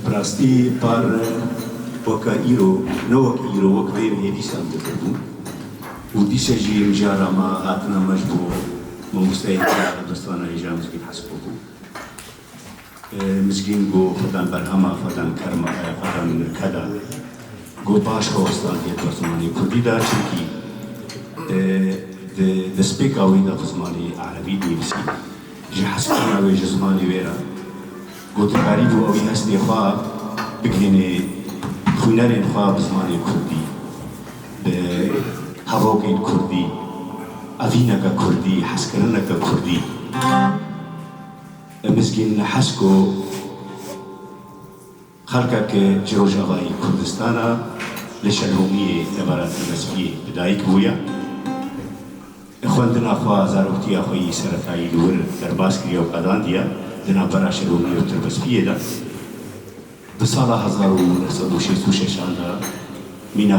Bi rastî par weke îro, ne wek îro, wek vêrê hêdî şam dikirbû û dîşe jî mijara me hatina me ji bo mamosteyê têra dibistana hêja Mizgîn Hespo bû. Mizgîn got xwedan berhema xwedan kerma ye, xwedan nirke da. Got baş xwe westandiye di ber zimanê kurdî de çimkî di destpêka wî de bi zimanê erebî dinivîsî. Ji hespkirina wê ji zimanê wê re gotinberî bû ew ê hestê xwe bigihînê xwînerên xwe bi zimanê kurdî, bi hevokên kurdî, evîneke kurdî, hezkirineke kurdî. Mizgîn Hesko Xelkek ji rojavayî Kurdistana li Şenhomiyê debara Tîmespiyê bi dayik bûye. Li xwendina xwe zaroktiya xwe yî seretayî li wir derbas kiriye û qadandiye di navbera Şenhomiyê û Tirbespiyê de. Di sala hezar û neh sed û şêst û şeş an de mîna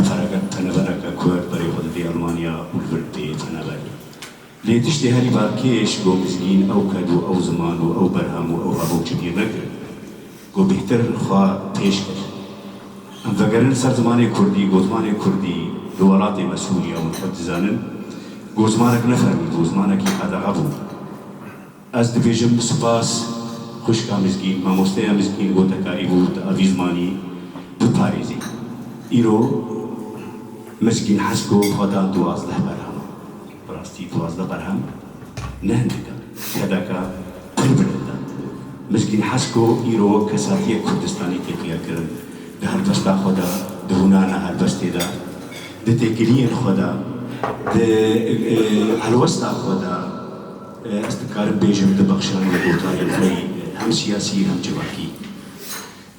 penebereke kurd berê xwe didê Elmanya û li vir didê peneberê. Lê tiştê herî bav kêş ku mizgîn ew qed û ew ziman û ew berham û ew hevokçe pîr nekir ku bêhtir xwe pêş kir. Em vegerin ser zimanê kurdî ku zimanê kurdî di welatê me Sûriye hûn xwe dizanin ku zimanek ne fermî bû, zimanekî qedexe bû. Ez dibêjim spas xwişka Mizgîn, mamosteya Mizgîn gotekarî bû tu avî zimanî biparêzî. Îro Mizgîn Hesko xwe da duwazdeh berhema. Bi rastî duwazdeh berhem ne hindik e. Tedeka pir bilind e. Mizgîn Hesko îro wek kesatiyek Kurdistanî tê xlêrkirin. Di helbesta xwe de, di hûnana helbestê de, di têkiliyên xwe de, di helwesta xwe de, Ez dikarim bêjim di bexşanên gotanên xwe yî hem siyasî hem civakî.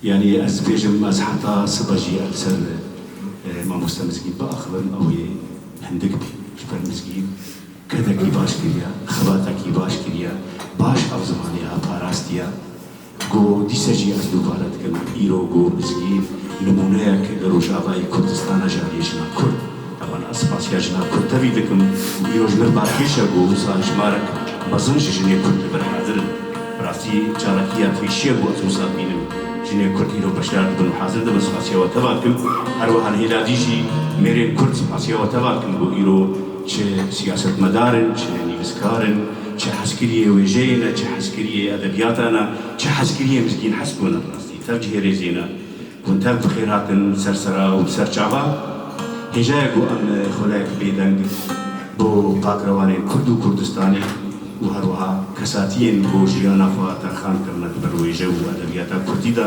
Yanî ez dibêjim ez heta sibe jî ev li ser Mamoste Mizgîn biaxivim ew ê hindik bî. Ji ber Mizgîn kedekî baş kiriya, xebatekî baş kiriya, baş ev zimanê xwe parastiya. Ku dîsa jî ez dubare dikim, îro ku bi zgîv nimûneyek li Rojavayê Kurdistan e jariye jina Kurd. Heman ez spasiya jina Kurd tevî dikim ku îro ji min balkêş e ku wisa jimarek mezin ji jinê Kurd li vir hazir in. Bi rastî çalakî ya pêşî ye ku ez wisa dibînim jinê Kurd îro beşdar dibin û hazir dibin spasiya we tevah dikim. Her wiha li hêladî jî mêrên Kurd spasiya we tevah dikim ku îro çi siyasetmedar in, çi nivîskar in, Çi hezkiriyê wêjeyê ne, çi hezkiriyê edebiyata ne, çi hezkiriyê mizgîn hez bû ne bi rastî tev cihêrêjê ne. Hûn tev bi xêr hatin ser sera û bi ser çava. Hêjayê ku em xuleyek bêdeng bo qakrewanên Kurd û Kurdistanê û her wiha kesatiyên ku jiyana xwe terxan kirine di ber wêje û edebiyata Kurdî de,